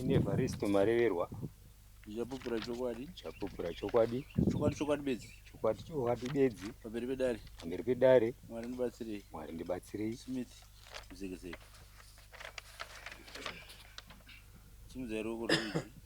ine varisto mareverwa chapupura chokwadi chapupura chokwadi chokwadi chokwadi bedzi chokwadi chokwadi bedzi pamberi pedare pamberi pedare mwari ndibatsirei mwari ndibatsirei smith muzekeseke simudzai ruoko rwuizvi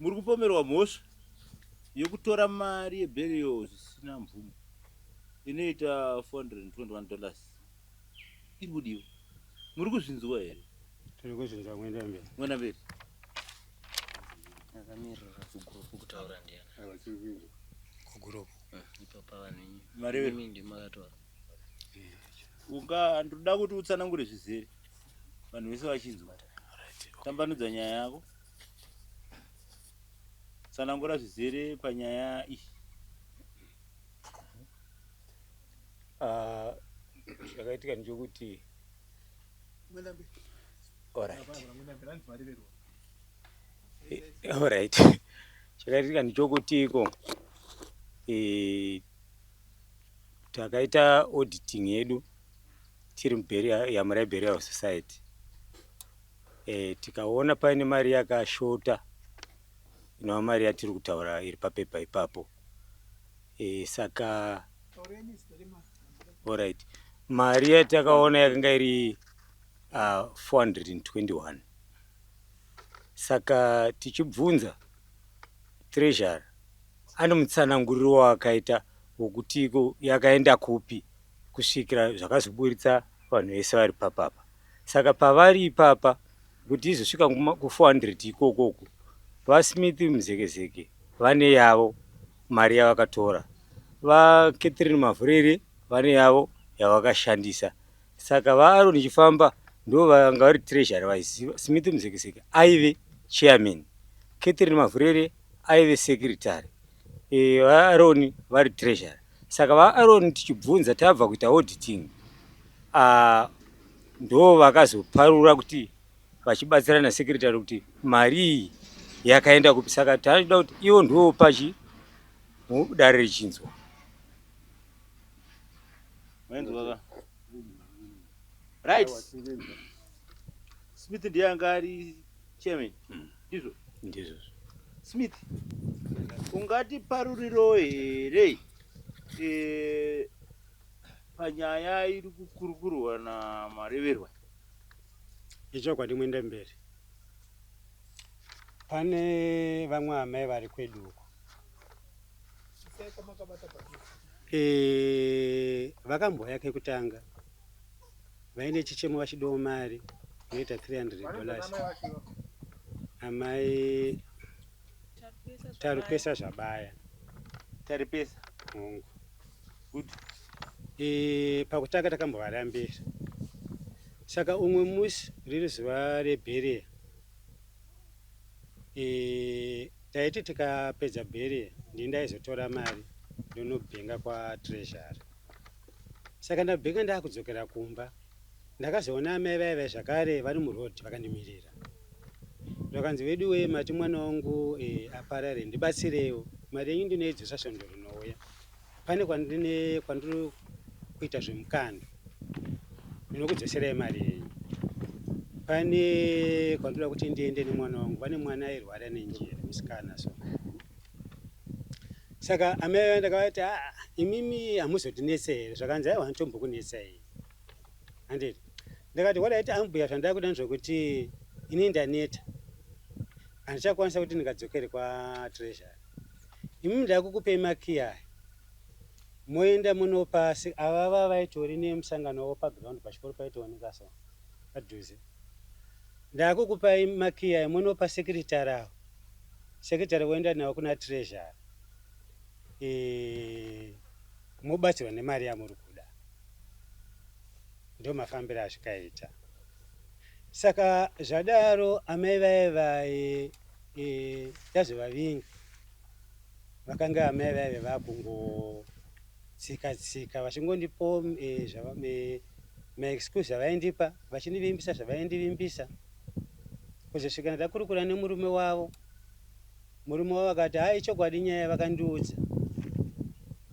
Muri kupomerwa mhosva yekutora mari yeburial zvisina mvumo inoita 421 dollars. Iri kudiwa. Muri kuzvinzwa here? Tiri kuzvinzwa mwenda mberi. Mwenda mberi. Akamirira kugurupu kutaura ndiani? Havachiri kuinzwa. Kugurupu. Eh, ipo pavanhu inyi. Mari yemi ndi makatora. Unga ndoda kuti utsanangure zvizere. Vanhu vese vachinzwa. Tambanudza nyaya yako. Tsanangura zvizere panyaya iyi. Ah, chakaitika ndechokuti alright Eh, alright chakaitika ndechokuti iko eh, takaita auditing yedu tiri mubheri yamuribheri our society Eh, tikaona paine mari yakashota inova mari yatiri kutaura iri papepa ipapo e, saka orit mari yatakaona yakanga iri uh, ah, 421 saka tichibvunza treasure ane mutsananguriro waakaita wokuti yakaenda kupi kusvikira zvakazoburitsa vanhu vese vari papapa saka pavari ipapa kuti izosvika ku400 ikoko uku vasmith muzekezeke vane yavo mari yavakatora vacatherine mavhurere vane yavo yavakashandisa saka vaaron chifamba ndo vanga vari treasury vaiziva smith muzekezeke aive chairman catherine mavhurere aive secretary eh, vaAron vari treasurer saka vaAron tichibvunza tabva kuita auditing ah, ndo vakazoparura kuti vachibatsirana secretary kuti mari iyi yakaenda kupi saka taida kuti ivo ndivo pachi dare richinzwa right smith ndiye anga ari Chairman, ndizvo. Ndizvo. Smith, ungati paruriro here eh, panyaya iri kukurukurwa namareverwa? Ichokwadi muende mberi. Pane vamwe amai vari kwedu uko. Eh, vakamboya kekutanga Vaine chichemo vachidawo mari inoita 300 dollars. Amai Taripesa Zvabaya. Taripesa hongu. Good. E, pakutanga takambovarambira saka umwe musi riri zuva rebhereya e, taiti tikapedza bhereya ndini ndaizotora mari ndonobhenga kwatreasury saka ndabika ndakudzokera kumba ndakazoona amai vaive zvakare vari muroad vakandimirira vakanzi wedu wee mati mwana wangu e, aparare ndibatsirewo mari yenyu ndinoidzosa svondo rinouya pane kwandine kwandiri kuita zvemukando ndinokudzoserai mari yenyu pane kwandoda kuti ndiende nemwana wangu pane mwana airwara nenjere musikana so saka amai vaya ndakavati aa ah, imimi hamuzotinetse here zvakanzi aiwa hanitombokunetsai handiti ndakati wadaiti ambuya zvandava kuda ndezvekuti ini ndaneta handichakwanisa kuti ndingadzokere kwatreasure imimi ndava kukupei makiyi aya moenda munopa avava vaitori nemusangano wavo paground pachikoro paitooneka so padhuze ndava kukupai makiyi aya munopa sekiritari avo secretary voenda navo kuna treasury e, mobatsirwa nemari yamuri kuda ndo mafambiro azvikaita saka zvadaro amai vaye vaye e, tazovavinga vakanga amai vaive vakungotsika tsika vachingondipo e, zvava, e, maexcuse avaindipa vachindivimbisa zvavaindivimbisa kuzosvika ndakurukura nemurume wavo murume wavo akati haa ichokwadi nyaya vakandiudza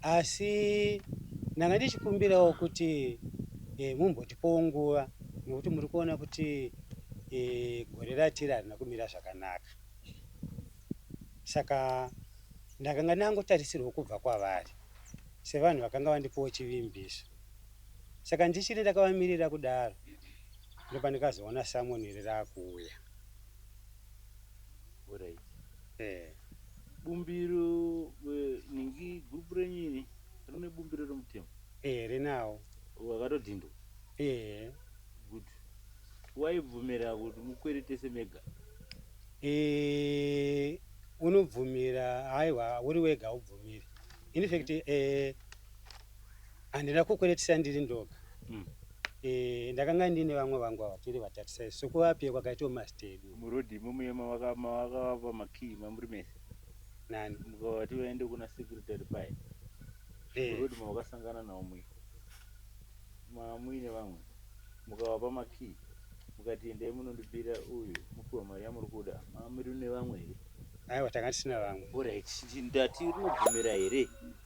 asi ndanga ndichikumbirawo kuti e, mumbotipowo nguva nekuti muri kuona kuti e, gore ratiri harina kumira zvakanaka saka ndakanga ndangotarisirwa kubva kwavari sevanhu vakanga vandipowo chivimbiso saka ndichiri ndakavamirira kudaro ndopandikazoona salmon iri rakuuya Alright. eh Bumbiro eh, ningi group renyu iri rine bumbiro remutemo. eh rinawo Wakatodhindwa. eh Good. Waibvumira kuti mukweretese mega. eh unobvumira haiwa uri wega ubvumiri in fact eh Handina kukweretisa ndiri ndoga. Mm. Eh, ndakanga ndine vamwe vangu ava tiri vatatu sai sokuvapiwa kwakaita umasta edu. Murodi mumuye mavakavapa makii mamuri mese. Nani? Mukavati vaende kuna secretary paye. Eh. Murodi mavakasangana nawo muye. Mamuine vamwe. Mukavapa makii. Mukati endai munondibira uyu mupiwa mari yamuri kuda. Mamuri nevamwe here? Aiwa tanga tisina vamwe. Alright, ndati rinobvumira here?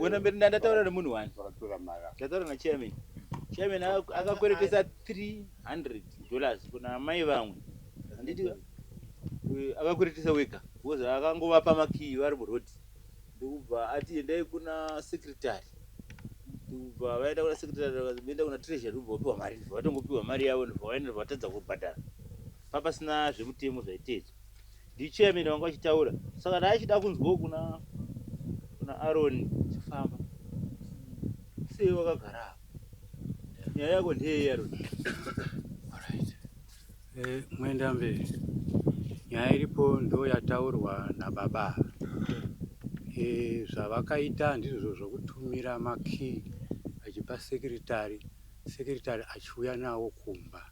wena mberi ndandataura nemunhu wani ndataura nachairman chairman akakweretesa 300 dollars kuna mai vamwe anditi akakweretesa wega bcause akangovapa makiyi vari murodi ndokubva ati endai kuna secretary ndokubva vaenda kuna secretary vaenda kuna treasury ndokubva vapiwa mari ndobva vatongopiwa mari yavo ndobva vaenda ndobva vatadza kubhadhara papasina zvemutemo zvaiteedzwa ndichairman vanga vachitaura saka ndaachida kunzwawo kuna kuna aron chifamba sei wakagara nyaya yako ndeyei aron Eh, mwenda mberi nyaya iripo ndo yataurwa nababa eh, zvavakaita ndizvo zvokutumira makii achipa sekiritari sekiritari achiuya nawo kumba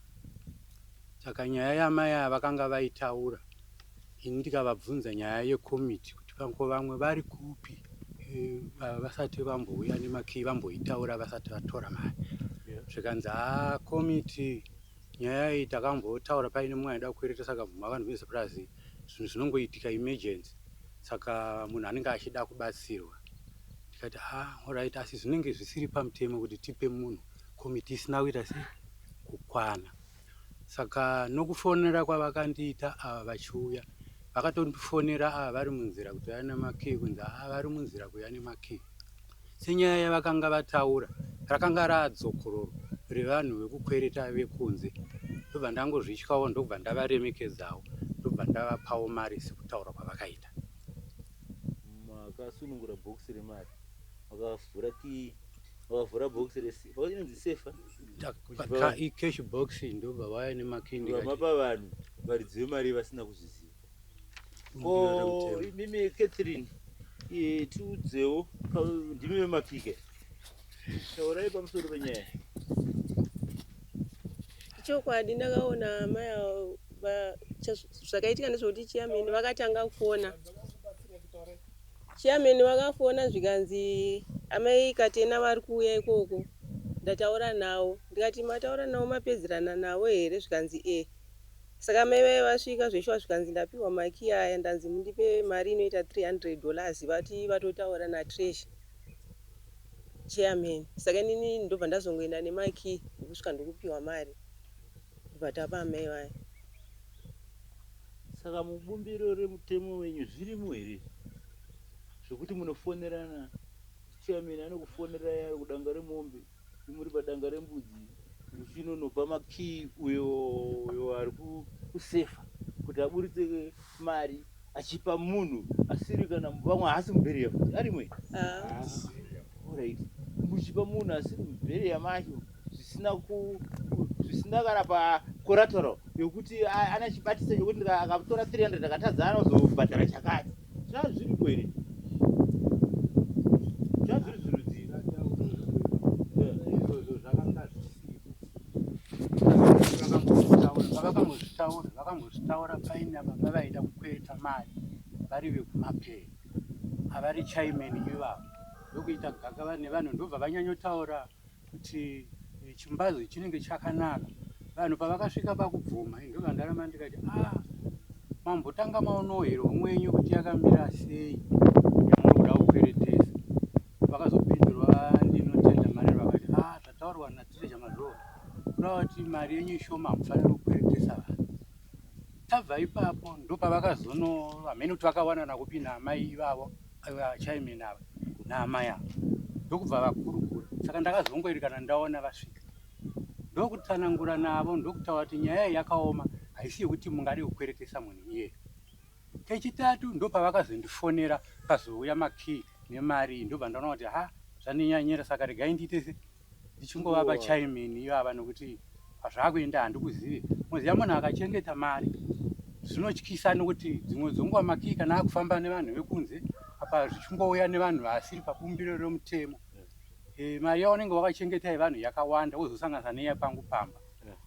saka nyaya yamai aya vakanga vaitaura ini ndikavabvunza nyaya yekomiti kuti vanko vamwe vari kupi eh, vasati vambouya nemakii vamboitaura vasati vatora mari zvikanzi haa komiti Nyaya iyi takambotaura paine mumwe aida kukwereta saka bvuma vanhu vese plus zvinhu zvinongoitika emergency saka munhu anenge achida kubatsirwa tikati ah alright asi zvinenge zvisiri pamutemo kuti tipe munhu komiti isina kuita sei kukwana saka nokufonera kwavakandiita ava vachiuya vakatondifonera ava vari munzira kuti vane makii kunzi ava vari munzira kuya nemakii Senyaya yavakanga vataura rakanga raadzokororo revanhu vekukwereta vekunze ndobva ndangozvityawo ndokubva ndavaremekedzawo ndobva ndavapawo mari sekutaura kwavakaita. Makasunungura bhokisi remari makavhura kii vakavhura bhokisi resinonzi sefa cash box ndobva vaya nemakindi vamapa vanhu varidzi vemari vasina kuzviziva ko imimi catherine eh, tiudzewo ndimi vemapike taurai pamusoro penyaya chokwadi ndakaona amai avo va- cha- zvakaitika ndezvekuti chiyameni vakatanga kufona chiyameni vakafona zvikanzi amai katena vari kuuya ikoko ndataura navo ndikati mataura navo mapedzerana navo here zvikanzi e Saka mai vaya vasvika zveshuwa zvikanzi ndapihwa makey aya ndanzi mundipe mari inoita 300 dollars vati vatotaura naTreasure chairman saka inini ndobva ndazongoenda nemakey ndokusvika ndokupihwa mari ndobva tapa amai vaya. Saka mubumbiro remutemo wenyu zvirimo here izvi zvekuti munofonerana chairman anokufonerai ari kudanga remombe? Muri padanga rembudzi uchinonopa makii uyo uyo ari kusefa kuti aburitse mari achipa munhu asiri kana vamwe haasi mubheriya kuti arimwe orit muchipa munhu asiri mubheriya macho zvisina zvisina kana pacorateral yokuti ana chibatisa chokuti akatora 300 akatadza anozobhadhara chakati zvazviri kwere zvazviri zvirudzii vakangozvitaura vakangozvitaura paina baba vaida kukweta mari vari vekumapere avari chaimeni ivavo ndokuita gakava nevanhu ndobva vanyanyotaura kuti eh, chimbazi chinenge chakanaka vanhu pavakasvika pakubvuma ndovandarama ndikati a ah, mambotanga maonohero mwenyu kuti yakamira sei yamuri kuda kukweretesa vakazopindurwa ndinotenda mari vakati a ah, zvataurwa natireja mazvoo kuda kuti mari yenyu ishoma mufanira kukweretesa vanhu tabva ipapo ndopavakazono vamheni kuti vakawanana kupi naamai ivavo vachaimena ava naamai ava ndokubva vakurukura saka ndakazongoerekana ndaona vasvika ndokutsanangura navo ndokutaura kuti nyaya iyi yakaoma haisi yekuti mungade kukweretesa munhu iye kechitatu ndopavakazondifonera pazouya makii nemari iyi ndobva ndaona kuti ha zvandinyanyira saka regai ndiite ndichingovapa chaimini iyo ava nokuti pazvakuenda handikuzive moziva munhu akachengeta mari zvinotyisa nokuti dzimwe dzonguva makii kana akufamba nevanhu vekunze apa zvichingouya nevanhu vasiri pabumbiro remutemo e, mari yaunenge wakachengeta yevanhu yakawanda wozosanganisa neya pangu pamba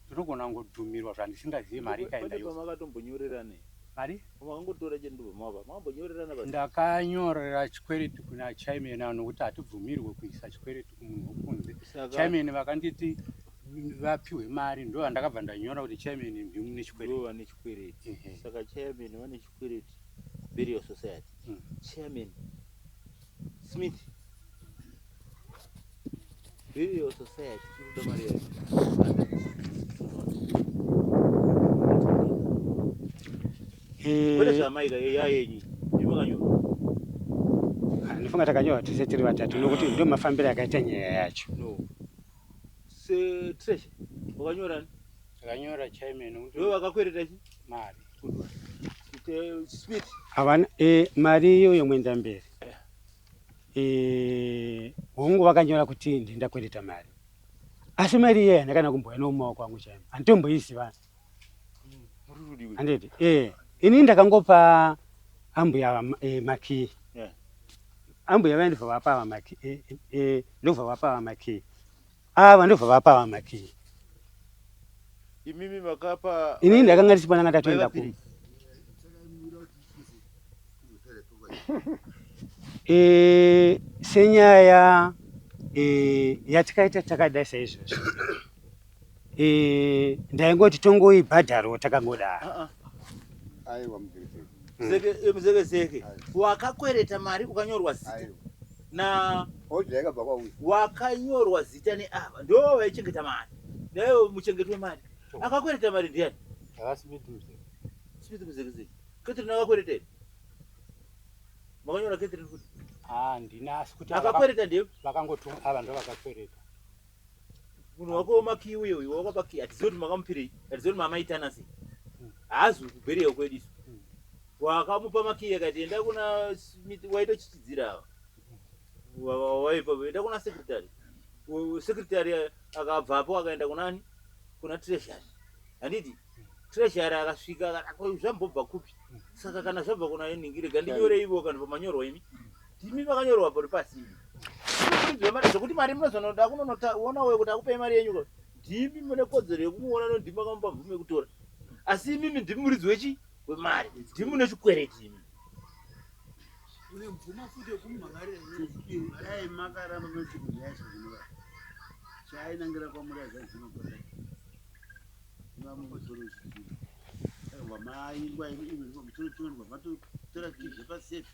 ndinogona kungodhumirwa zvandisingazive mari ikaenda yose mari Makangotora chenduve mava makambonyorerana basi. Ndakanyorera chikwereti kuna chairman avo nokuti hatibvumirwe kuisa chikwereti kumunhu wokunze. Saka- Chairman vakanditi mm, vapihwe mari ndo vandakabva ndanyora kuti chairman ndiwe mune chikwereti. Ndivo vane chikwereti. Ehe. Saka chairman vane chikwereti burial society. Mm. Chairman Smith Billy also said, Nifunga takanyorwa tese tiri vatatu nokuti ndio mafambiro akaita nyaya yacho. No. Se Trish, wakanyora? Takanyora chairman. Ndiwe wakakwereta chi? Mari. Kuti eh, speed. Havana eh mari iyoyo mwenda mberi. Eh, hongu vakanyora kuti ndinda kuendeta mari asi mari iye handakana kumboya nomumaoko angu chaimo handitomboiziva handiti ee eh, ini ndakangopa ambuya ava eh, makii ambuya vaye ndibva vapa ava makii ndobva vapa ava makii ava ndobva vapa vamatii imimi makapa ini ndakanga ndisipo ndanga ndatoenda ku e, senyaya e, yatikaita takadai saizvozvo e, eh, ndaingoti tongoibhadharo takangodaro ah, ah. mm. zeke zeke wakakwereta mari ukanyorwa zita na Hodya yakabva kwauyo. wakanyorwa zita neava ndoo vaichengeta mari naivo muchengeti wemari akakwereta mari ndiani Havasi miti mzee. smith muzekizei catherine akakwereta here makanyora catherine kuti Ah, ndina asi kuti ava- akakwereta ndiye vakangotuma ava ndovakakwereta. munhu wako wemakiyi uye uyo wakapa kiyi hatizivi kuti makamupirei hatizivi kuti mamaitana sei haazi kubheriya kwedu isu wakamupa makiyi akati enda kuna waitochichidzira ava waipa enda kuna sekretary sekretary akabvapo akaenda kunani kuna treasury handiti treasury akasvika zvambobva kupi saka kana zvabva kuna ini ndirega ndinyoreivo kana pamanyorwa imi Ndimi vakanyorwa pari pasi. Zvekuti mari munozonoda kunonoona uye kuti akupei mari yenyu ndimi mune kodzero yekumuona no ndimi makamupa mvumo yekutora. Asi imimi ndimi muridzi wechi wemari. Ndimi mune chikwereti imi. Une mvumo futi yekumhangarira yenyu. Dai makaramba moti kudai zvinova. Chainangira kwamuri zvazvino kudai. Vamwe kuzoro zvinhu. Vamai ngwa imi imi mutoro chimwe ngwa matotora kizve pasefi.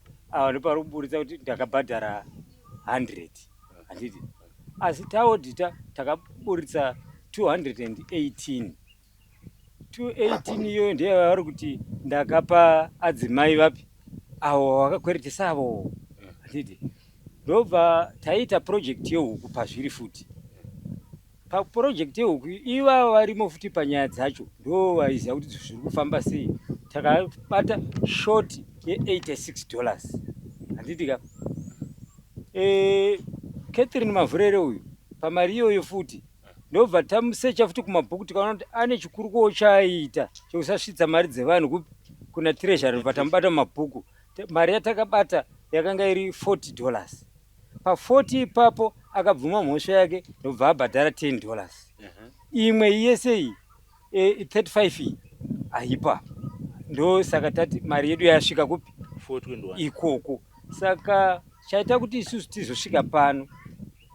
awa ndopanoburitsa kuti ndakabhadhara 100 handiti asi taodhita takaburitsa 218 218 iyoyo ndiye vavari kuti ndakapa adzimai vapi avo vakakweretesa avo handiti ndobva taiita project yehuku pazviri futi Paproject yehuku ivava varimo futi panyaya dzacho ndo vaiziva kuti zviri kufamba sei takabata short ye86 dollars handitika e, eh, catherine mavhurere uyu pamari iyoyo futi ndobva tamusecha futi kumabhuku tikaona kuti ane chikuru kuwo chaaita chekusasvitsa mari dzevanhu kupi kuna treasury bva tamubata mumabhuku mari yatakabata yakanga iri 40 dollars Pa 40 ipapo akabvuma mhosva yake ndokubva abhadhara 10 dollars. Imwe yese iyi e, 35 iyi haipo apa. Ndosaka tati mari yedu yasvika kupi? 421. ikoko saka chaita kuti isusu tizosvika pano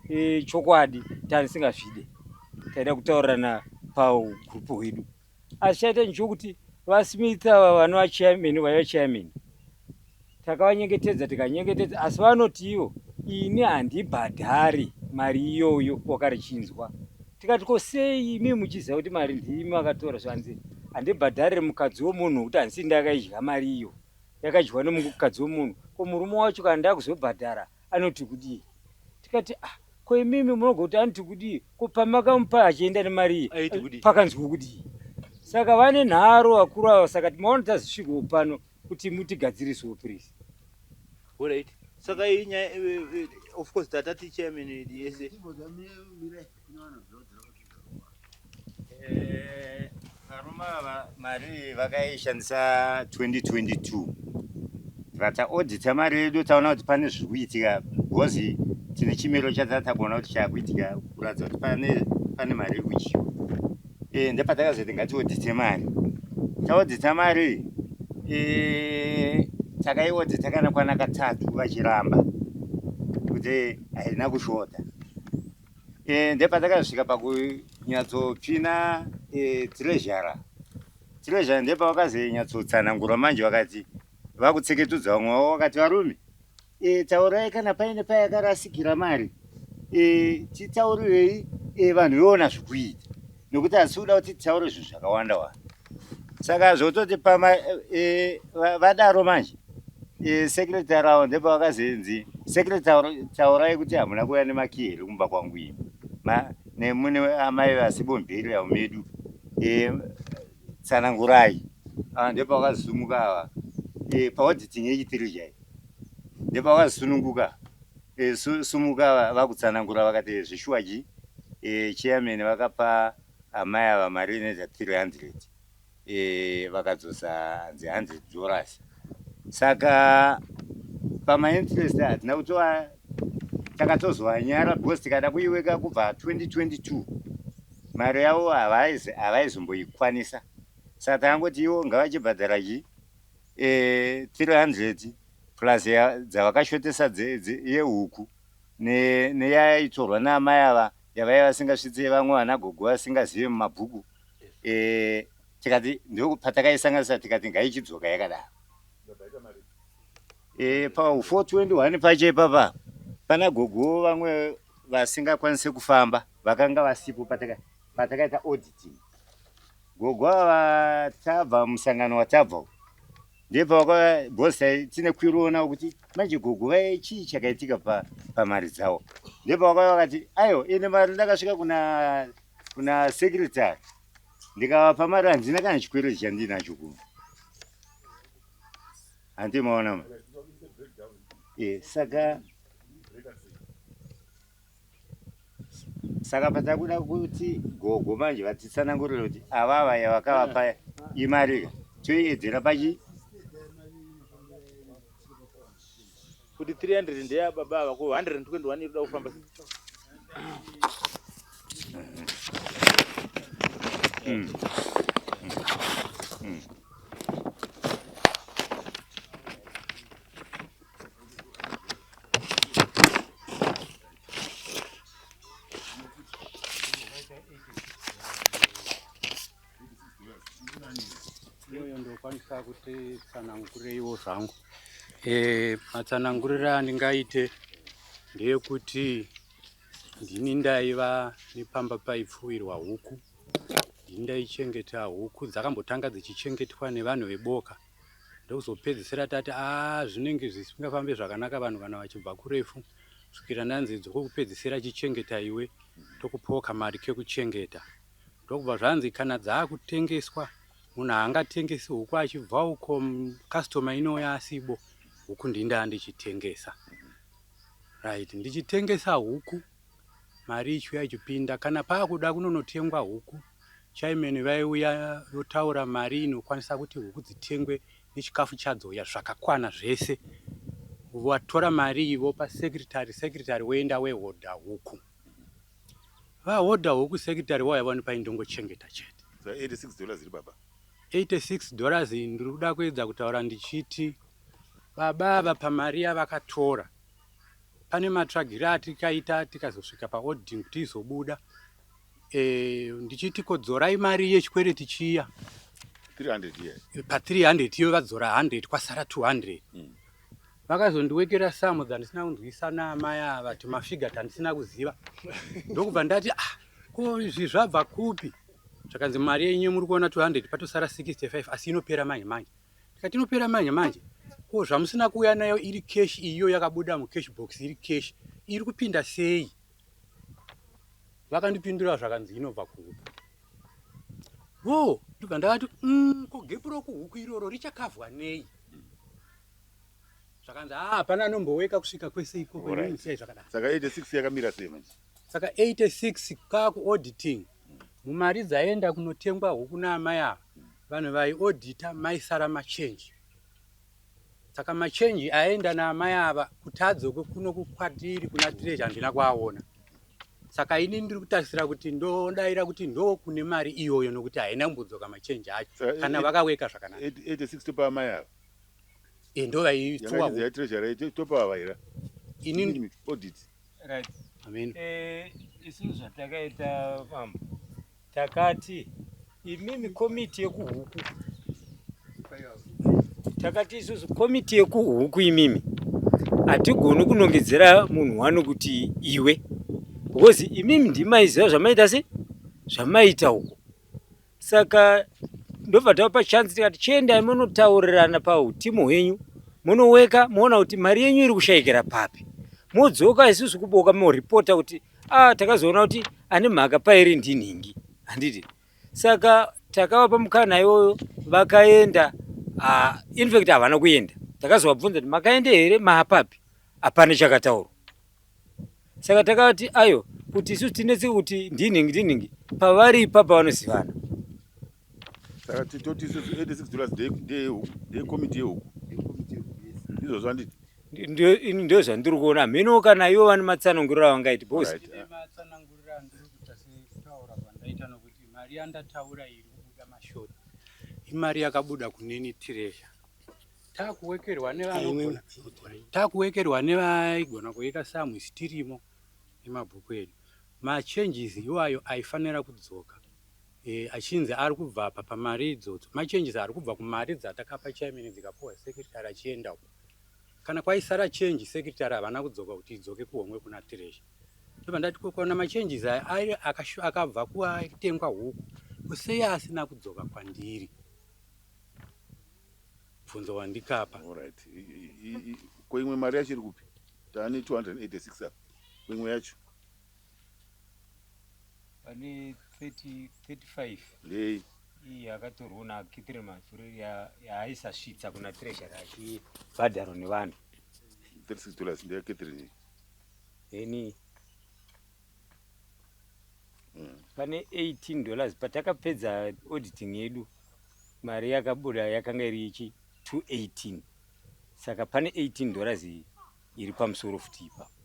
e, chokwadi tanisingazvide taida kutaurirana paugrupu hwedu asi chaita nchokuti vasmith ava vanova chairman vaiva chairman takavanyengetedza tikanyengetedza asi vanotiwo ini handibhadhari mari iyoyo wakarichinzwa tikati ko sei imi muchiziva kuti mari ndiimi vakatora zvanzi handibhadharire mukadzi wemunhu kuti handisi ndakaidya mari iyo yakadyiwa nemukadzi wemunhu ko murume wacho kana ndakuzobhadhara anoti kudii tikati ah ko imimi munogoti anoti kudii ko pamakamupa achienda nemari pakanzwi kudii saka vane nharo vakuru ava saka timaona tazisvigoo pano kuti mutigadzirisoo please saka iyi nyaya eh, eh, eh, of course tatati chairman yese Eh, varume ava mari vakaishandisa 2022 tibva taodita mari yedu taona kuti pane zviri kuitika bhozi tine chimiro chataa takuona kuti chaakuitika kuratidza kuti pane pane mari iri kudyiwa eh, ndepatakazoiti ngatiodite mari taodita mari eh, takaiodita kana kwana katatu vachiramba kuti haina kushota Eh, ndepatakasvika pakunyatsotsvina eh, tirezhara tirezhara ndepavakazonyatsotsana manje vakati vakutseketudza vamwe vavo vakati varume e, taurai kana paine payakarasikira mari e, titaurirei e, vanhu veona zvikuita nekuti asi kuda kuti titaure zvinhu zvakawanda wanda saka zvototi pama e, vadaro manje e, secretary avo ndipo vakazenzi secretary taurai kuti hamuna kuuya nemakiyi here kumba kwangu ini nemune amai vasibondheri yavo medu e, tsanangurai ah, ndipo vakazisumuka ava e, paodhiting yechitiri chai ndipo vakazisununguka e, sumuka vakutsanangura vakati zvishuwa chi e, chairman vakapa Amai ava mari inoita 300 e, vakadzosa hanzi 100 dollars saka pamainterest hatina kutova takatozovanyara because tikada kuiweka kubva 2022 mari yavo havaizomboikwanisa saka takangoti ivo ngavachibhadhara chi e, eh, 300 plus dzavakashotesa yehuku neyaitorwa ne naamai ava yavaiva vasingasvitse vamwe vana gogo vasingazive mumabhuku eh, tikati ndopatakayisanganisa tikati ngaichidzoka yakadaro eh, pa 421 pacho ipapa pana gogo vamwe vasingakwanise kufamba vakanga vasipo patakaita auditing gogo ava tabva musangano watabva ndipo vakabhosa tine kwiroona kuti manje gogo vaye chii chakaitika pamari dzavo ndipo vakauya vakati aiwa ine mari ndakasvika kuna kuna secretary ndikavapa mari handina kana chikwereti chandinacho kuno handimaona ma e, saka Saka patakuda kuti gogo manje vatitsanangurire kuti avava yavakavapa imarika toiedzera pachi kuti 300 ndeya baba ava ko 121 iri kuda kufamba mm. mm. ndokwanisa kuti tsanangureiwo zvangu eh, matsananguriro andingaite ndeyekuti ndini ndaiva nepamba paipfuwirwa huku ndini ndaichengeta huku dzakambotanga dzichingetwa nevanhu veboka ndokuzopedzisira tati aa zvinenge zvisingafambe zvakanaka vanhu kana vachibva kurefu kusvikira ndanzi dzokupedzisira chichengeta iwe tokupawo kamari kekuchengeta ndokubva zvanzi kana dzaakutengeswa munhu haangatengesi huku achibva uko customer inouya asibo huku ndindaa ndichitengesa right ndichitengesa huku mari ichiuya ichipinda kana paakuda kunonotengwa huku chaimeni vaiuya votaura mari inokwanisa kuti huku dzitengwe nechikafu chadzo ya zvakakwana zvese vatora mari iyi vopa secretary secretary woenda wehodha huku vahodha huku secretary vauya vani paindongochengeta chete 86 dollars iri baba 86 dollars ndiri kuda kuedza kutaura ndichiti baba ava pamari yavakatora pane matsvagire atikaita tikazosvika paoding kuti izobuda e, ndichiti kodzorai mari yechikwereti chiya pa 300 iyo vadzora 100 kwasara 200 mm. vakazondiwekera samu dzandisina kunzwisa naamai ava timafiga tandisina kuziva ndokubva ndati ah, ko izvi zvabva kupi zvakanzi mari yenyu muri kuona 200 patosara 65 asi inopera manje manje Tikati inopera manje manje. Ko zvamusina kuuya nayo iri cash iyo yakabuda mu cash box iri cash iri kupinda sei? Vakandipindura zvakanzi inobva kuhuku. Wo, ndibva ndakati mm, ko gepu rokuhuku iroro richakavhwa nei? Zvakanzi ah, hapana anomboweka kusvika kwese ikoko. Alright. Ini sei zvakadaro. Saka 86 yakamira sei manje? saka 86 kaku auditing mumari dzaenda kunotengwa huku naamai ava vanhu vaiodita maisara machenji saka machenji aenda naamai ava kutadzo kwekuno kukwatiri kuna tireji handina kuaona saka ini ndiri kutarisira kuti ndodaira kuti ndo kune mari iyoyo nokuti haina kumbodzoka machenji acho eh, kana eh, vakaweka zvakanaka 86 topa amai ava e eh, ndo vaitsuwa topa ava ira ini audit Right. Amen. Eh, isu zvatakaita mambo takati imimi komiti yekuhuku takati isusu komiti yekuhuku imimi hatigoni kunongedzera munhu wani kuti iwe because imimi ndimaiziva zvamaita se zvamaita uko saka ndobva tavapa chance tikati chiendai monotaurirana pautimu hwenyu monoweka moona kuti mari yenyu iri kushayikira papi modzoka isusu kuboka moripota kuti ah, takazoona kuti ane mhaka pairi ndinhingi handiti saka takavapa mukana iwoyo vakaenda ah, infact havana kuenda takazovabvunza kuti makaende here maapapi hapana chakataurwa saka takati ayo kuti isu tinetse kuti ndinhingi ndinhingi pavari ipapa vanozivana saka titoti isu 86 dollars dekomiti yehuku ndizvo zvanditi ndio zvandiri kuona hameno kana ivo vane matsananguriro avangaiti bos mari yandataura iri kubuda mashoti imari yakabuda kuneni tiresha takuwekerwa nevanogona takuwekerwa nevaigona kuika samwe sitirimo nemabhuku edu machanges iwayo aifanira kudzoka e, achinzi ari kubva apa pamari idzodzo machanges ari kubva kumari dzatakapa chaimene dzikapuwa secretary achienda uko kana kwaisara change secretary havana kudzoka kuti idzoke kuhomwe kuna tiresha ndobva ndati kokona machanges aya airi akabva kuatengwa huku kusei asina kudzoka kwandiri bvunzo wandikapa Alright. I- i- i- i- Ko imwe mari yacho iri kupi? Tane 286 apa. Ko imwe yacho pane 30 35 ndei? iyi akatorwa na kitire mafuri ya- yaaisasvitsa kuna treasury achibhadharo nevanhu 36 dollars ndeya Catherine. then mm. pane 18 dollars patakapedza auditing yedu mari yakabuda yakanga iri ichi 218 saka pane 18 dollars iyi iri pamusoro futi ipapo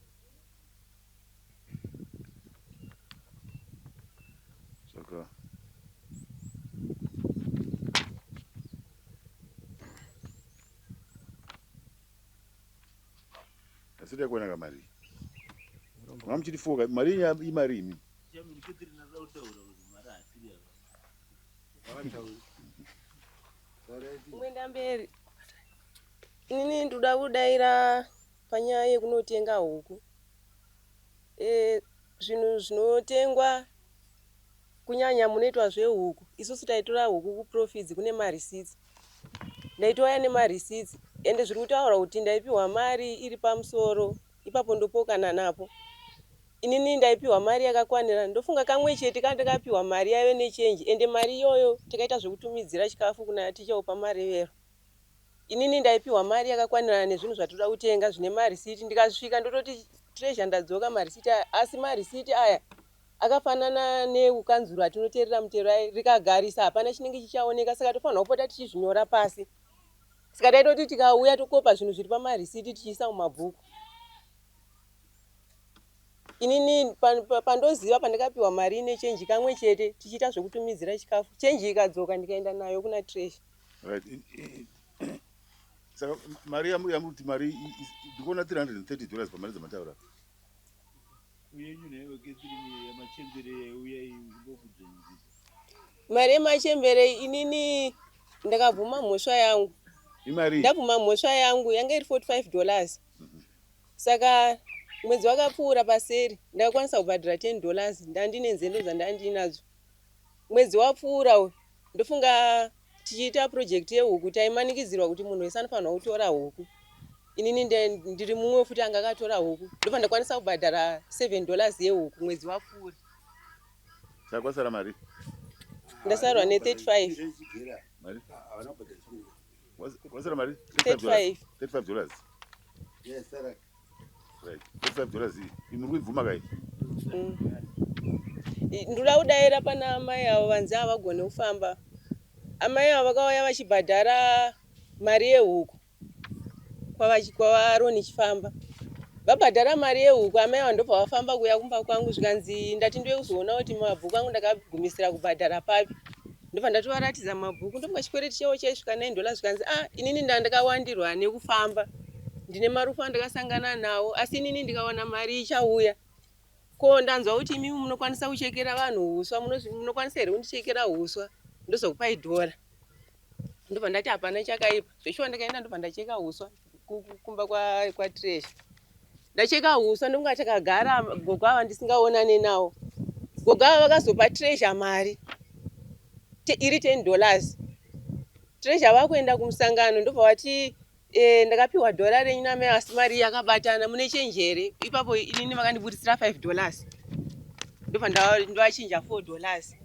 Asi takuona ka mari. Mama muchiti foka mari yenyu imari imi. Kuenda mberi. Nini ndoda kudaira panyaya yekunotenga huku. Eh zvinhu zvinotengwa kunyanya munoitwa zvehuku. Isusu taitora huku kuprofits kune marisitsi. Ndaitouya nema receipts ende zviri kutaurwa kuti ndaipihwa mari iri pamusoro ipapo ndopokana napo. Inini ndaipihwa mari yakakwanira ndofunga kamwe chete kandakapihwa mari yaive ne change ende mari iyoyo takaita zvekutumidzira chikafu kuna Ticha upa Marevero. Inini ndaipihwa mari yakakwanirana nezvinhu zvatinoda kutenga zvine ma receipt ndikasvika ndototi Treasure ndadzoka ma receipt aya asi ma receipt aya Akafanana neukanzuru atinoterera mutero aye rikagarisa hapana chinenge chichaoneka saka tofanirwa kupota tichizvinyora pasi saka taitoti tikauya tokopa zvinhu zviri pamarisiti tichiisa mumabhuku inini pandoziva pandakapiwa mari ine chenji kamwe chete tichiita zvekutumidzira chikafu chenji ikadzoka ndikaenda nayo kuna tresh right. saka mari yamuti mari ndikuona 330 dollars pamari dzamataura Mari yemachembere inini ndakabvuma mhosva yangu. Imari. Ndabvuma mhosva yangu yanga iri 45 dollars. Saka mwedzi wakapfuura paseri ndakakwanisa kubhadhara 10 dollars ndandine nzendo dzandandinadzo. Mwedzi wapfuura uyu ndofunga Tichiita project yehuku taimanikidzirwa kuti munhu wese anofanirwa kutora huku. Inini ndiri mumwe futi anga akatora huku ndobva ndakwanisa kubhadhara 7 dollars yehuku mwedzi wapfuura. Saka kwasara mari? Ndasarwa ne 35. Mari? Kwasara mari? 35. 35 dollars. Yes, sir. Mm. ndoda kudaira pana amai avo vanzi havagone kufamba amai avo vakauya vachibhadhara mari yehuku kwavaroni chifamba vabhadhara mari yehuku amai avo ndobva vafamba kuuya kumba kwangu zvikanzi ndati ndive kuzoona kuti mabhuku angu ndakagumisira kubhadhara papi ndobva ndatovaratidza mabhuku ndomuka chikwereti chavo chaisvika 9 dollars zvikanzi ah inini ndandakawandirwa nekufamba ndine marufu andakasangana nawo asi inini ndikawana mari ichauya ko ndanzwa kuti imimi munokwanisa kuchekera vanhu uswa munokwanisa here kundichekera uswa ndozokupai dhora ndobva ndati hapana chakaipa zveshuwa ndakaenda ndobva ndacheka uswa kumba kwatresh ndacheka huswa ndonga chakagara gogo ava ndisingaonane nawo gogo ava vakazopa treasure mari iri 10 dollars treasure vakuenda kumusangano ndobva vati eh, ndakapiwa dhora renyu namai asi mari yakabatana mune chenji here ipapo inini vakandiburitsira 5 dollars ndobva ndovachinja 4 dollars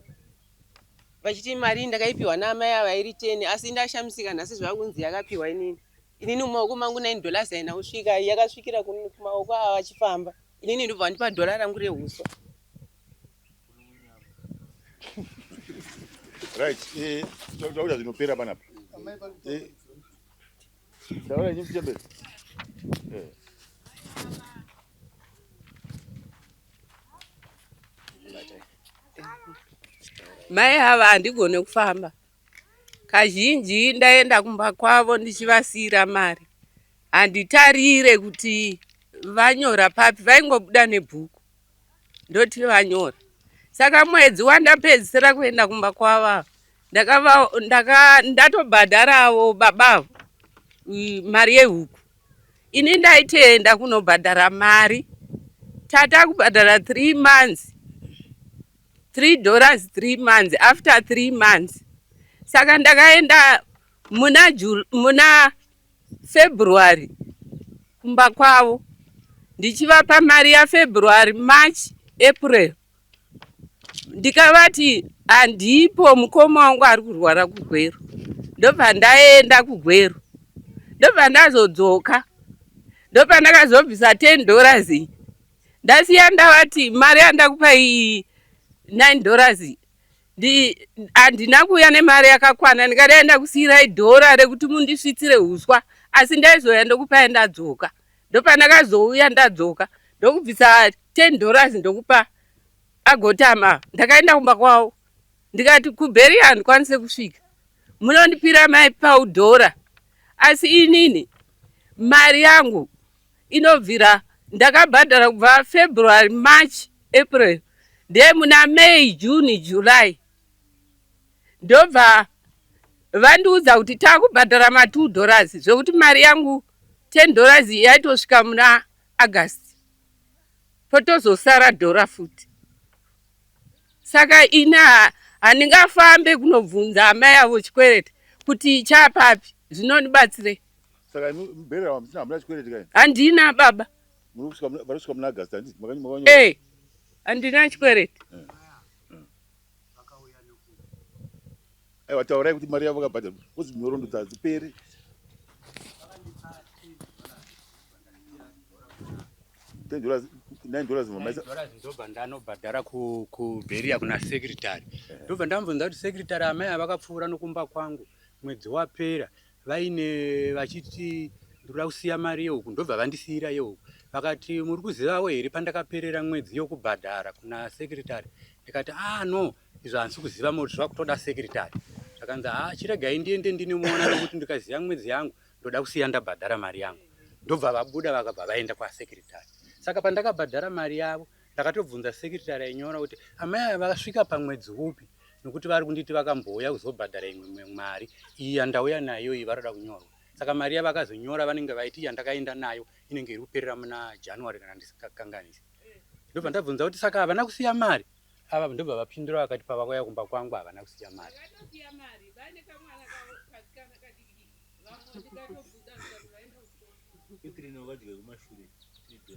vachiti mari ndakaipiwa naamai ava iri teni asi ndashamisika nhasi zvakunzi yakapiwa inini inini mumaoko mangu nine dollars haina kusvika yakasvikira kumaoko ava vachifamba inini ndobva vandipa dhora rangu rehuswa right eh, tauda zvinopera panapa eh, Taura nyimbo chembe. Eh. Mai hava handigone kufamba. Kazhinji ndaenda kumba kwavo ndichivasiyira mari. Handitarire kuti vanyora papi, vaingobuda nebhuku. ndoti vanyora saka mwedzi wandapedzisira kuenda kumba kwava ndatobhadharawo babavo mari yehuku ini ndaitenda kunobhadhara mari tata kubhadhara three months three dollars three months after three months saka ndakaenda muna muna February kumba kwavo ndichivapa mari yaFebruary, March, April ndikavati handipo mukoma wangu ari kurwara kuGweru ndobva ndaenda kuGweru ndobva ndazodzoka ndopandakazobvisa 10 dollars iyi ndasiya ndavati mari yandakupa iyi 9 dollars iyi handina kuuya nemari yakakwana ndingadai ndakusiyirai dhora rekuti mundisvitsire uswa asi ndaizouya ndokupai ndadzoka ndopandakazouya ndadzoka ndokubvisa 10 dollars ndokupa agotama ndakaenda kumba kwavo ndikati kubheri handikwanise kusvika munondipira mai paudhora asi inini mari yangu inobvira ndakabhadhara kubva February, March, April ndiye muna May, June, July ndobva vandiudza kuti takubhadhara ma 2 dollars zvekuti mari yangu 10 dollars yaitosvika muna August potozosara dhora futi. Saka ina handingafambe kunobvunza amai avo chikwereti kuti chapapi zvinonibatsirei Saka imi muberera wamusina hamuna chikwereti kai? Handina baba. Muri kusvika muna- vari kusvika muna August handiti makanyi makanyora. Eh, handina chikwereti. Aiwa taurai kuti mari yavo vakabhadharwa kozi nhoroondo hadziperi. Ten dollars, nine dollars mamaisa. Dollars ndobva ndanobhadhara ku kuberia kuna secretary ndobva ndambonza kuti secretary amai ava vakapfuura nokumba kwangu mwedzi wapera vaine vachiti ndoda kusiya mari yeuku ndobva vandisiira yeuku vakati muri kuzivawo here pandakaperera mwedzi yokubhadhara kuna secretary ndikati ah no izvo handisi kuziva moti zvakutoda secretary zvakanzi ha ah, chiregai ndiende ndinomuona nekuti ndikaziva mwedzi yangu ndoda kusiya ndabhadhara mari yangu ndobva vabuda vakabva vaenda kwasecretary saka pandakabhadhara mari yavo Ndakatobvunza secretary ainyora kuti amai aya vakasvika pamwedzi upi nokuti vari kunditi vakambouya kuzobhadhara imwe mari iyi yandauya nayo iyi varoda kunyorwa saka mari yavakazonyora vanenge vaiti yandakaenda nayo inenge iri kuperera muna january kana ndisingakanganisi ndobva ndabvunza kuti saka havana kusiya mari ava ndobva vapindura vakati pavakauya kumba kwangu havana kusiya mari Thank you.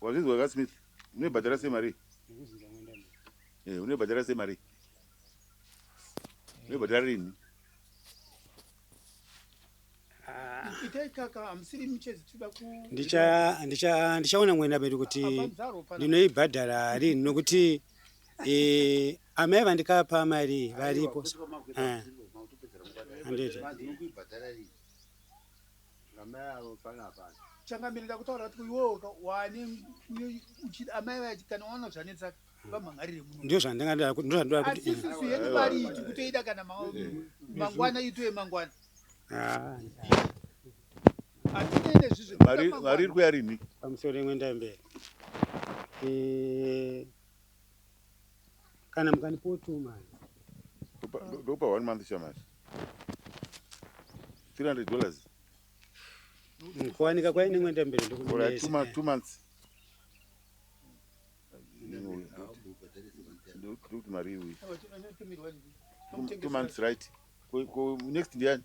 Wazvinzwa ka Smith? Unoibhadhara sei mari? Eh, unoibhadhara sei mari? Unoibhadhara rini? ndichaona mwena vedu kuti ndinoibhadhara rini nokuti eh, amai vandikapa mari varipo eh, handiti Amai avo pana pana. Changamirira kutaura kuti iwewe wane uchida amai vaye kana waona zvanetsa mm. vamhangarire muno. Ndio zvandingadira kuti ndio zvandira kuti. Asi sisi yedu mari iti kutoida kana mangwana itoye mangwana. Ah. Atinde zvizvo. Vari vari kuyari ni. Pamusoro imwe ndaye mbere. Eh kana mukandipo two months ndokupa one month shamari 300 dollars mukuwanika kwaine mwenda mberi ndokuma two months ndokuti mari iwi two months right ko next ndiyani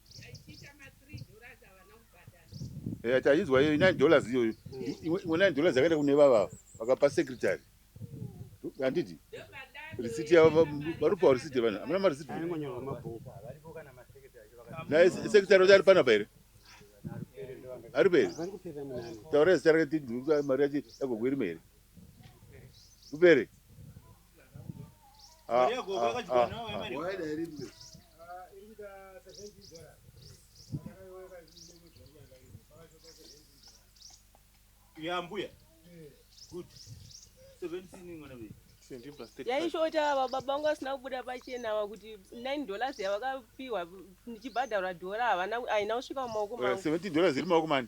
Eh, taizwa iyo 9 dollars iyoyo imwe 9 dollars yakaenda kune vava vakapa secretary handiti risiti yavo varupawo risiti yevanhu hamuna marisiti naye secretary vacho ari panapa here ari peri taura zita rake mari yacho yagogwerima here kupere Ah, yambuya good 17 mwana wedu yaishota ava baba vangu vasina kubuda pachena ava kuti 9 dollars yavakapiwa ndichibhadharwa dhora havana haina kusvika mumaoko mangu 17 dollars iri maoko mani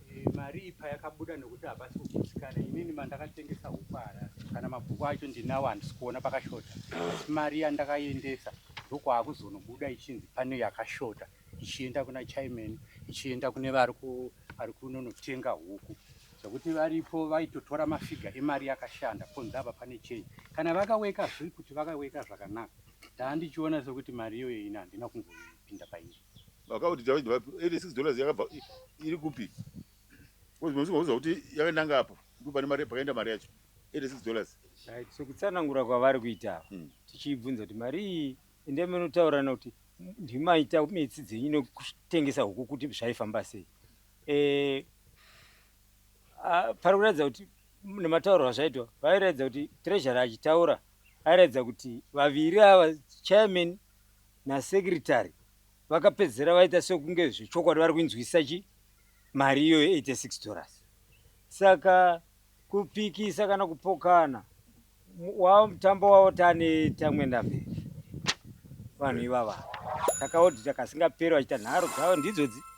Mari iyi payakabuda nekuti hapasi kugutsikana inini mandakatengesa huku harasi kana mabhuku acho ndinawo handisi kuona pakashota asi mari yandakaiendesa ndokwaakuzonobuda ichinzi pane yakashota ichienda kuna chaimeni ichienda kune vari kunonotenga huku zvekuti varipo vaitotora mafiga emari yakashanda ponzi apa pane chenji kana vakaweka zviri kuti vakaweka zvakanaka ndaa ndichiona sekuti mari iyoyo ini handina kumboipinda pairi Account dzavo idzi vapi? 86 dollars yakabva i- iri kupi? Because munhu usingaudzwa kuti yakananga apo ndipo pane mari pakaenda mari yacho. 86 dollars. Right. So kutsanangura kwavari kuita ava, Mm. tichibvunza kuti mari iyi endai munotaurirana kuti "M- ndimaita metsi dzenyu nekutengesa huku kuti zvaifamba sei. Eh, ah, pari kuratidza kuti m- nematauro azvaitwa vairatidza kuti treasury achitaura airatidza kuti vaviri ava chairman nasecretary vakapedzisira vaita sekunge zvechokwadi vari kuinzwisisa chi mari iyo ye 86 dollars saka kupikisa kana kupokana wava mutambo wavo tane tamwenda mberi vanhu ivava takaodita kasingaperi vachita nharo dzavo ndidzodzi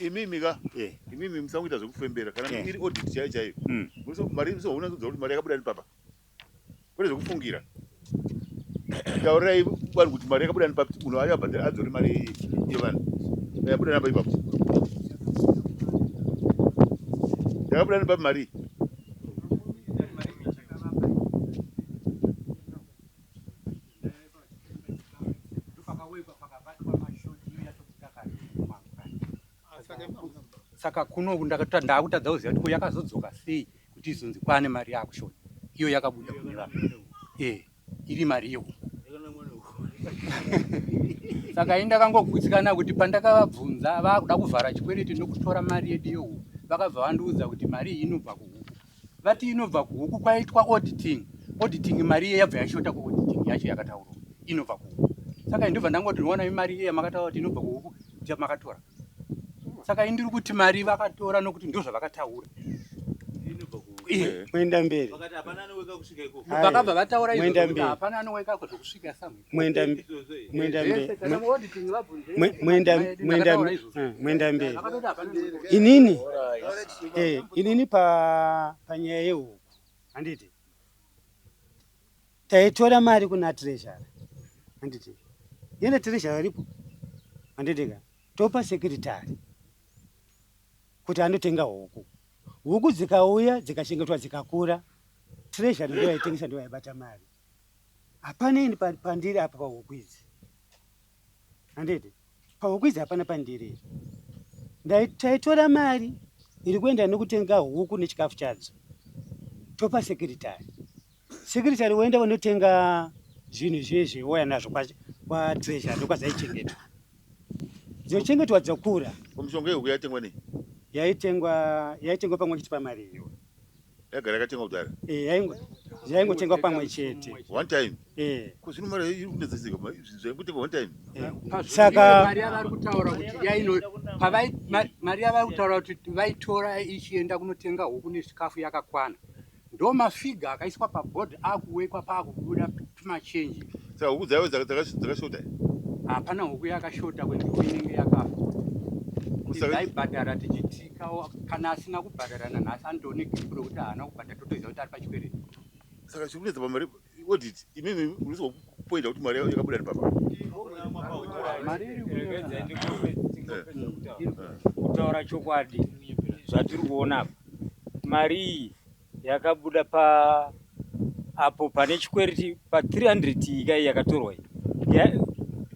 imimi ka eh. imimi musangoita zvekufembera kana eh. iri audit chaiyo chaiyo hmm. mari musoona kudza kuti mari yakabuda nepapa kwete zvekufungira taurai vanhu kuti mari yakabuda nepapa munhu ayo abhadhara adzore mari yevanhu yabuda napa ipapo yakabuda nepapa mari saka kuno ndakutadza kuziva kuti ko yakazodzoka sei kuti izonzi kwane mari yakushona iyo yakabuda kune vanhu e iri mari iyo saka ini ndakangogutsikana kuti pandakavabvunza vakuda kuvhara chikwereti nokutora mari yedu yehuku vakabva vandiudza kuti mari iyi inobva kuhuku vati inobva kuhuku kwaitwa auditing auditing mari iye yabva yashota kuauditing yacho yakataurwa inobva kuhuku saka indobva ndangoti ndinoona imari iye yamakataura kuti inobva kuhuku kuti makatora saka indiri kuti mari vakatora nokuti ndozvavakataura kuenda mberi vakabva vataura izvo hapana anoweka ko zvokusvika samwe mwendambe mwendambe mwendambe mwendambe mwendambe inini eh inini pa panyaya yehuku handiti taitora mari kuna treasurer handiti yena treasurer ripo handiti ka topa secretary kuti anotenga huku huku dzikauya dzikachengetwa dzikakura treasurer ndiyo yaitengesa ndiyo yaibata mari Hapana ini pandiri apa pahuku idzi. Handiti? Pahuku idzi hapana pandiri. Taitora mari iri kuenda nekutenga huku nechikafu chadzo. Topa sekretari. Sekretari woenda wanotenga zvinhu zviye zviwoya nazvo kwatreasure ndokwadzaichengetwa. Dzochengetwa dzokura. Mishonga yehuku yaitengwa nei? Yaitengwa yaitengwa pamwe chete pamari iyo. yagara yakatengwa kudhara eh yaingo yaingotengwa pamwe chete one time eh kuzvino mari iri kunetseseka zvaingotengwa one time eh. saka mari yavari kutaura kuti yaino pavai mari yavari kutaura kuti vaitora ichienda kunotenga huku nechikafu yakakwana ndo mafiga akaiswa paboard akuwekwa pakubuda machenji saka huku dzayo dzakashota hapana huku yakashota kwenguva inenge yakafa aibhadhara tichitikawo kana asina kubhadhara nanhasi andoone gripu rokuti haana kubhadhara totoziva kuti ari pachikwereti saka chiri kunetsa pamari odit imimi unoziva kupoinda kuti mari yakabuda nepapa mari irikutaura chokwadi zvatiri kuona apa mari iyi yakabuda pa apo pane chikwereti pa 300 iyi kai yakatorwa iyi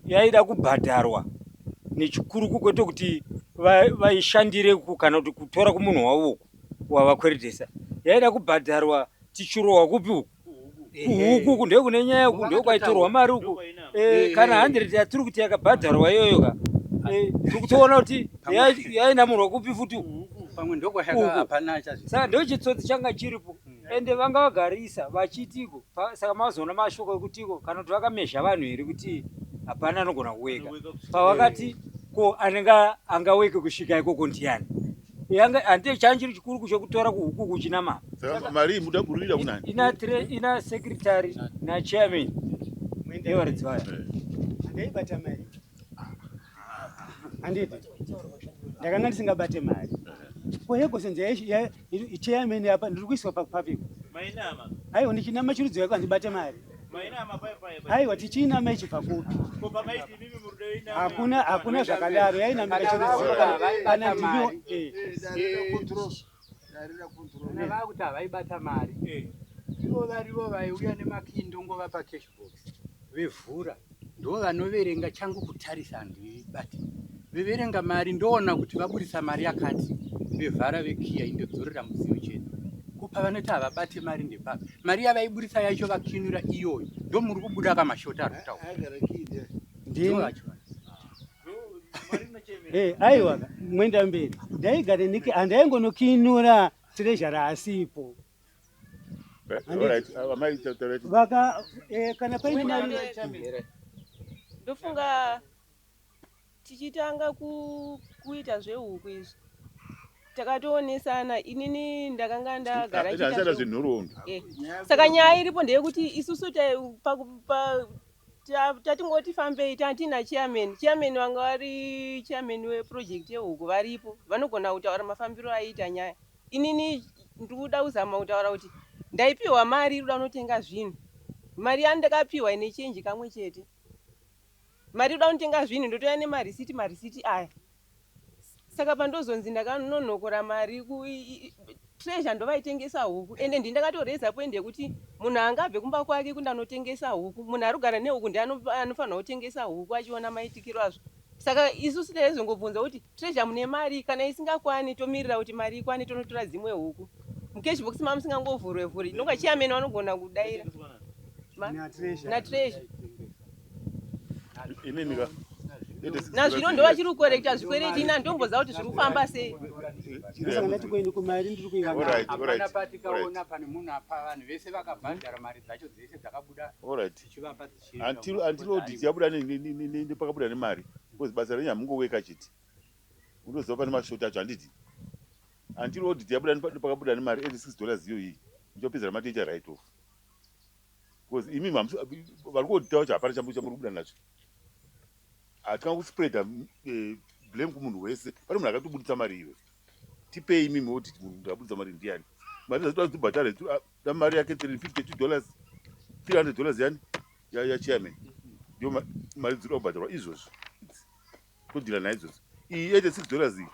yaida kubhadharwa nechikuru kukwete kuti vaishandire va kana kuti kutora kumunhu wavo uku wavakweretesa yaida kubhadharwa tichirohwa kupi uku kuhuku uku ndekune nyaya uku ndokwaitorwa mari uku eh, kana handireti yatiri kuti yakabhadharwa iyoyo ka eh, tiri kutoona kuti yainamurwa kupi futi saka ndochitsotsi changa chiripo hmm. ende vanga vagarisa vachitiko saka mazoona mashoko ekutiko kana kuti vakamezha vanhu here kuti hapana anogona kuweka pavakati ko anenge angaweke kusvika ikoko ndiyani yanga hande change chiri chikuru kusho kutora kuhuku kuchina mama saka mari muda kurira kuna ina tre ina secretary na chairman mwende yori dzwaya ndei bata mari anditi ndakanga ndisinga bate mari ko yego senze ya chairman apa ndiri kuiswa pa public mai nama ayo ndichinama chiri dzwaya kwanzi bate mari Aiwa tichinama ichibva kupi? Hakuna hakuna zvakadaro yainamira chinoziva kana ndiyo eh. vakuti havaibata mari eh. ivo varivo vaiuya nemakindongo vapa cash box vevhura ndo vanoverenga changu kutarisa handibati veverenga mari ndoona kuti vaburitsa mari yakati vevhara vekiya indodzorera mudziyo chete kupa vanoti havabate mari ndepaka mari yavaiburitsa yacho vakinura iyoyo ndo muri kubuda kamashota ari kutaura eh, aiwa mwenda mberi ndaigare niki andaingonokinura tirezhara asipo kana paine ndofunga tichitanga kuita zvehuku izvi takatoonesana inini ndakanga ndagara eh, saka nyaya iripo ndeyekuti isusu tatingoti fambei tatina chairman chairman vanga vari chairman weproject yehuku varipo vanogona kutaura mafambiro aiita nyaya Inini ndikuda kuzama kutaura kuti ndaipiwa mari irikuda kunotenga zvinhu. Mari yandakapiwa ine change kamwe chete. Mari irikuda kunotenga zvinhu ndotouya nemarisiti marisiti aya. Saka pandozonzi ndakanonokora mari ku treasure ndovaitengesa huku ende ndi ndakatoreza point yekuti munhu anga abve kumba kwake kundanotengesa huku. Munhu arikugara nehuku ndiye anofanirwa kutengesa huku achiona maitikiro azvo. Saka isusu taizongobvunza kuti treasure mune mari kana isingakwani tomirira kuti mari ikwane tonotora dzimwe huku. Mucash box mama musingangovhurwe vhuri inonga chairman vanogona kudaira. Na treasure. Inini ka. Nazvino ndovachiri kukorekta zvikwereti ina ndomboziva kuti zviri kufamba sei. Until until audit yabuda ne- ne- ne- ne- ne- nepakabuda nemari because basa renyu hamungoweka chete unoziva pane mashoti acho handiti until audit yabuda nepa- nepakabuda nemari every six dollars iyo iyi muchapedzera mati icha right off because imi mamusi- vari kuodita vacho hapana chambo chamuri kubuda nacho hatina kuspreada mm, eh, blame kumunhu wese pane munhu akatobuditsa mari iwe tipei imi maudit munhu abuditsa mari ndiani mari dzatobhadhara Ndoda mari yake 352 dollars 300 dollars yani ya, ya chairman ndio ma, mari dziri kubhadharwa izvozvo todhila naye izvozvo iyi 86 dollars iyi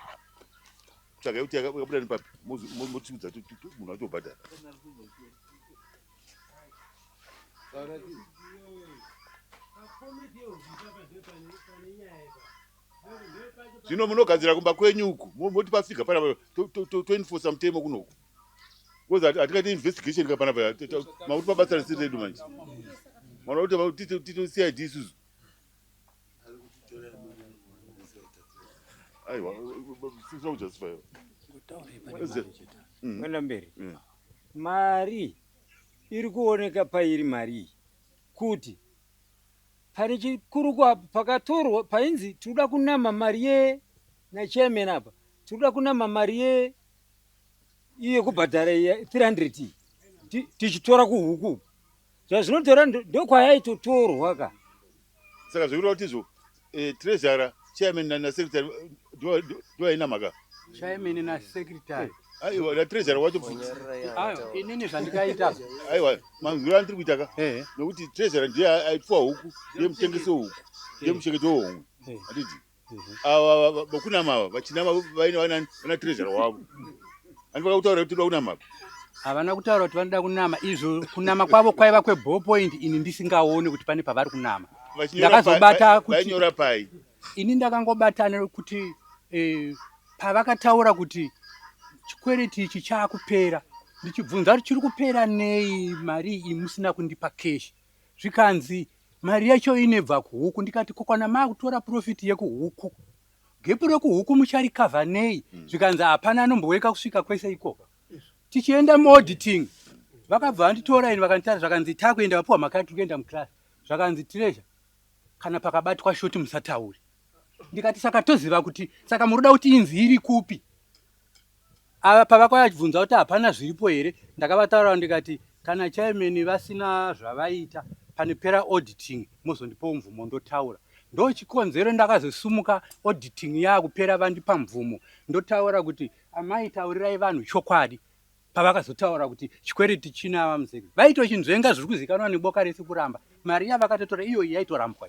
tsvagai kuti yakabuda nepapi motiudza munhu atobhadhara zvino munogadzira kumba kwenyu uku moti pasvika panapa toenforsa mutemo kunoku because hatingaite investigation ka pana paya makuti pabasa risiri redu manje manoda kuti tito cid isusu aiwa sisina kujustify mm. kwenda mberi mm. mari iri kuoneka pairi mari kuti pane chikuru kwapo pakatorwa painzi tinoda kunama mari ye nachairman apa tinoda kunama mari ye iye kubhadhara 300 tichitora kuhuku zvazvinotora ndokwayaitotorwa ka saka zvekureva kuti izvo eh, trezara chairman nasekretary ndoaina mhaka chairman nasekretary aiwa natrezara wacho futi inini zvandikaita aiwa manzwiro andiri kuita ka nokuti trezara ndiye aipfuwa huku ndiye mutengesi wehuku ndiye muchengeti wehomwe handiti ava vakunama ava vachinama vaine vanani vana trezhara wavo ani vakakutaura kuti toda kunama apa havana kutaura kuti vanoda kunama izvo kunama kwavo kwaiva kweball point ini ndisingaone kuti pane pavari kunama ndakazobata kutinyora pai ini ndakangobatana kuti eh, pavakataura kuti chikwereti ichi chaakupera ndichibvunza kuti chiri kupera nei mari iyi musina kundipa keshi zvikanzi Mari yacho inebva kuhuku ndikati kokwana makutora profit yekuhuku. Gepu rekuhuku mucharikavha nei mm. zvikanzi hapana anombooneka kusvika kwese ikoko. Tichienda muauditing vakabva vanditora ini vakanditara zvakanzi takuenda vapiwa mhaka yatiri kuenda muclass zvakanzi treasure kana pakabatwa shoti musataure ndikati saka toziva kuti saka muroda kuti inzi iri kupi Ava pavakauya vachibvunza kuti hapana zviripo here ndakavataurira ndikati kana chairman vasina zvavaita panopera auditing mozondipawo mvumo ndotaura. Ndochikonzero ndakazosimuka auditing yakupera vandipa mvumo ndotaura kuti amai taurirai vanhu chokwadi pavakazotaura kuti chikwereti china ava muzeki vaitochinzvenga zviri kuzikanwa neboka rese kuramba mari yavakatotora iyoyi yaitorambwa.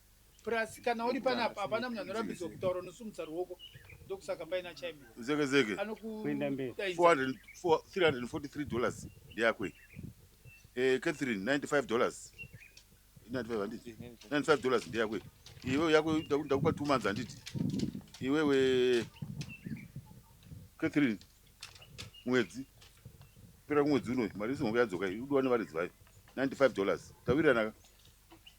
Plus kana uri panapa hapana munhu anorambidzwa kutaura unosumudza ruoko ndokusaka paina chaime zeke zeke Kuenda mberi. anokudaidza 400 four- 343 dollars ndeyako iyi Eh, catherine 95 dollars 95 handiti 95 dollars ndeyako iyi iwewe yako ndaku- ndakupa two months handiti iwewe catherine mwedzi pera kumwedzi unoyu mari yesihombe yadzoka iyi udiwa nevaridzi vayo 95 dollars tawiranaka